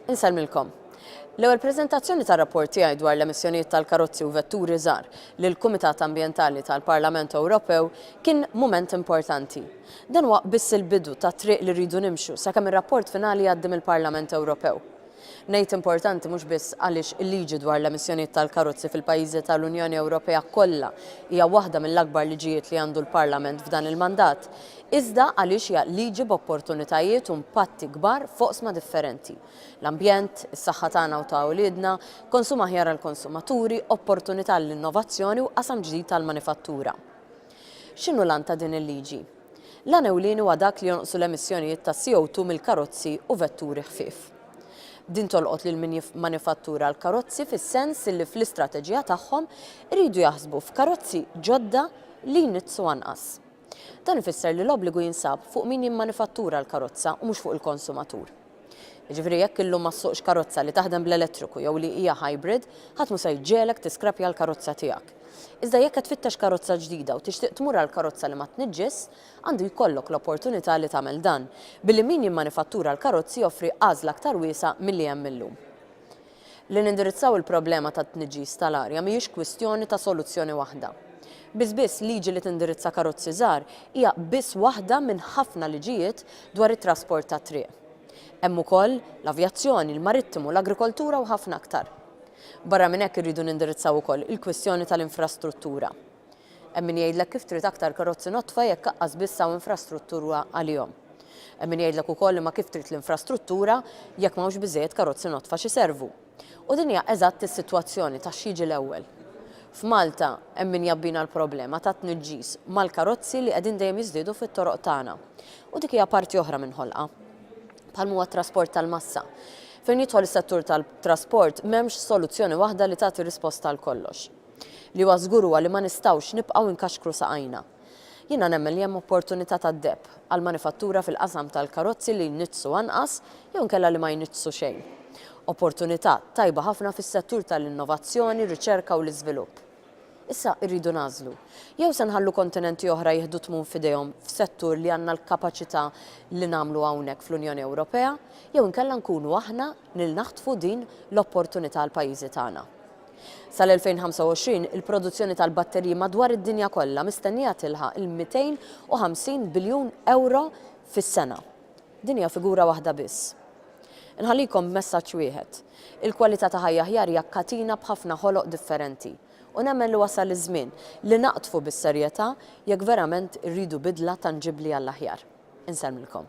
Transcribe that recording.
Insellmilkom. L-ewwel preżentazzjoni tar-rapport tiegħi dwar l-emissjonijiet tal-karozzi u vetturi żgħar lill-Kumitat Ambjentali tal-Parlament Ewropew kien mument importanti. Dan huwa biss il-bidu tat-triq li rridu nimxu sakemm ir-rapport finali jgħaddi mill-Parlament Ewropew. Ngħid importanti mhux biss għaliex il-liġi dwar l-emissjonijiet tal-karozzi fil-pajjiżi tal-Unjoni Ewropea kollha hija waħda mill-akbar liġijiet li għandu l-Parlament f'dan il-mandat, iżda għaliex hija liġi b'opportunitajiet u impatti kbar f'oqsma differenti, l-ambjent, is-saħħa tagħna u ta' uliedna, konsum aħjar għall-konsumaturi, opportunità għall-innovazzjoni u qasam ġdid għall-manifattura. X'inhu l-għan ta' din il-liġi? L-għan ewlieni huwa dak li jonqsu l-emissjonijiet ta' CO2 mill-karozzi u vetturi ħfief. Din tolqot lil min jimmanifattura l-karozzi fis-sens li fl-istrateġija tagħhom iridu jaħsbu f'karozzi ġodda li jniġġsu anqas. Dan ifisser li l-obbligu jinsab fuq min jimmanifattura l-karozza u mhux fuq il-konsumatur. Jiġifieri jekk illum ma ssuqx karozza li taħdem bl-elettriku jew li hija hybrid, ħadd mhu se jġegħlek tiskrappja l-karozza tiegħek. Iżda jekk qed tfittex karozza ġdida u tixtieq tmur għal karozza li ma tniġġis, għandu jkollok l-opportunità li tagħmel dan, billi min jimmanifattura l-karozzi joffri għażla aktar wiesgħa milli hemm illum. Li nindirizzaw il-problema tat-tniġġis tal-arja mhijiex kwistjoni ta' soluzzjoni waħda. Biss biss liġi li tindirizza karozzi żgħar hija biss waħda minn ħafna liġijiet dwar it-trasport tat-triq. Hemm ukoll l-avjazzjoni, l-marittimu, l-agrikoltura u ħafna aktar. Barra minn hekk irridu nindirizzaw ukoll il-kwistjoni tal-infrastruttura. Hemm min jgħidlek kif trid aktar karozzi nodfa jekk aqqas biss hawn infrastruttura għalihom. Hemm min jgħidlek ukoll imma kif trid l-infrastruttura jekk m'hawnx biżżejjed karozzi nodfa x'iservu. U din hija eżatt is-sitwazzjoni ta' x'jiġi l-ewwel. F'Malta hemm min jgħabbina l-problema tat-tniġġis mal-karozzi li qegħdin dejjem jiżdiedu fit-toroq tagħna. U dik hija parti oħra minn ħolqa. Bħalma huwa t-trasport tal-massa. Fejn jidħol is-settur tal-trasport m'hemmx soluzzjoni waħda li tagħti risposta għal kollox. Li huwa żgur huwa li ma nistgħux nibqgħu nkaxkru saqajna. Jiena nemmen li hemm opportunità tad-deheb għall-manifattura fil-qasam tal-karozzi li jniġġsu anqas jew inkella li ma jniġġsu xejn. Opportunità tajba ħafna fis-settur tal-innovazzjoni, riċerka u l-iżvilupp. Issa irridu nagħżlu. Jew se nħallu kontinenti oħra jieħdu t-tmun f'idejhom f'settur li għandna l-kapaċità li nagħmlu hawnhekk fl-Unjoni Ewropea jew inkella nkunu aħna nil naħtfu din l-opportunità għall-pajjiżi tagħna. Sal-2025, il-produzzjoni tal-batteriji madwar id-dinja kollha mistennija tilħaq il-250 biljun ewro fis-sena. Din hija figura waħda biss. Inħallikom b'messaġġ wieħed, il-kwalità ta' ħajja aħjar hija katina b'ħafna ħoloq differenti, u nemmen li wasal iż-żmien li naqdfu bis-serjetà jekk verament irridu bidla tanġibbli għall-aħjar. Insellmilkom.